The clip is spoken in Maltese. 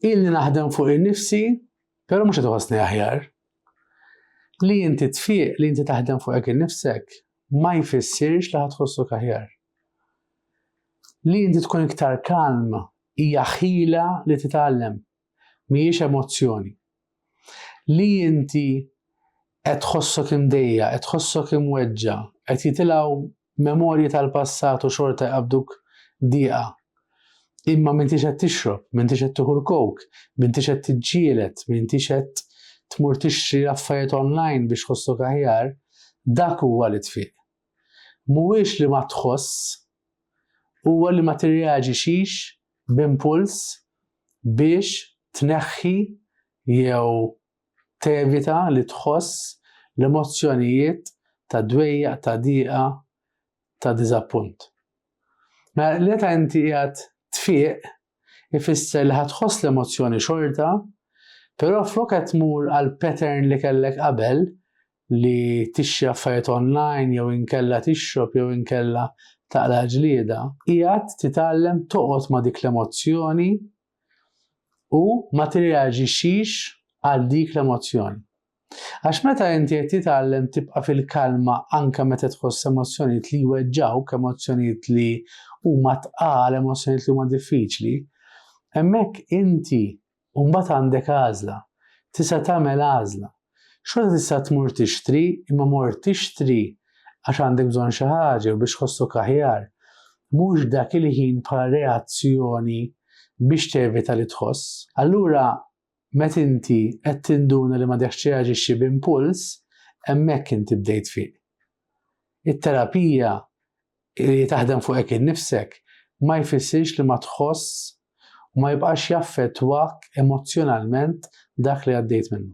Ilni naħdem fuq innifsi, però mhux qed iħossni aħjar. Li inti tfiq li inti taħdem fuqek innifsek ma jfissirx li ħad tħossok aħjar. Li inti tkun iktar kalm hija ħila li titgħallem, mhijiex emozzjoni. Li inti qed tħossok imdejja, qed tħossok imweġġa, qed jitilgħu memorji tal-passat u xorta jqabduk diqa. Imma m'intix qed tixrob, m'intix qed tieħu l-kowk, m'intix qed tiġġieled, m'intix qed tmur tixtri affarijiet online biex tħossok aħjar, dak huwa li tfiq. Mhuwiex li ma tħoss, huwa li ma tirreaġixix b'impuls biex tneħħi jew Tevita li tħoss l-emozzjonijiet ta' dwejjaq, ta' diqa, ta' diżappunt. Mela l-eta inti qiegħed tfieq ifisser li ħa tħoss l-emozzjoni xorta, però flok qed tmur għal pattern li kellek qabel li tixtri affarijiet online jew inkella tixrob jew inkella taqla' ġlieda, qiegħed titgħallem toqgħod ma' dik l-emozzjoni u ma tirreaġixxix għal dik l-emozzjoni. Għax meta inti qed titgħallem tibqa' fil-kalma anke meta tħoss emozzjonijiet li jweġġawk, emozzjonijiet li huma tqal, emozzjonijiet li huma diffiċli, hemmhekk inti mbagħad għandek għażla, tista' tagħmel għażla Xorta tista' tmur tixtri, imma mort tixtri għax għandek bżonn xi ħaġa jew biex tħossok aħjar, mhux dak il-ħin bħala reazzjoni biex tevita li tħoss. Allura, meta inti qed tinduna li m'għadekx tirreaġixxi b'impuls, hemmhekk inti bdejt tfiq. It-terapija Li taħdem fuq hekk innifsek ma jfissirx li ma tħoss u ma jibqax jaffettwak emozzjonalment dak li għaddejt minnu.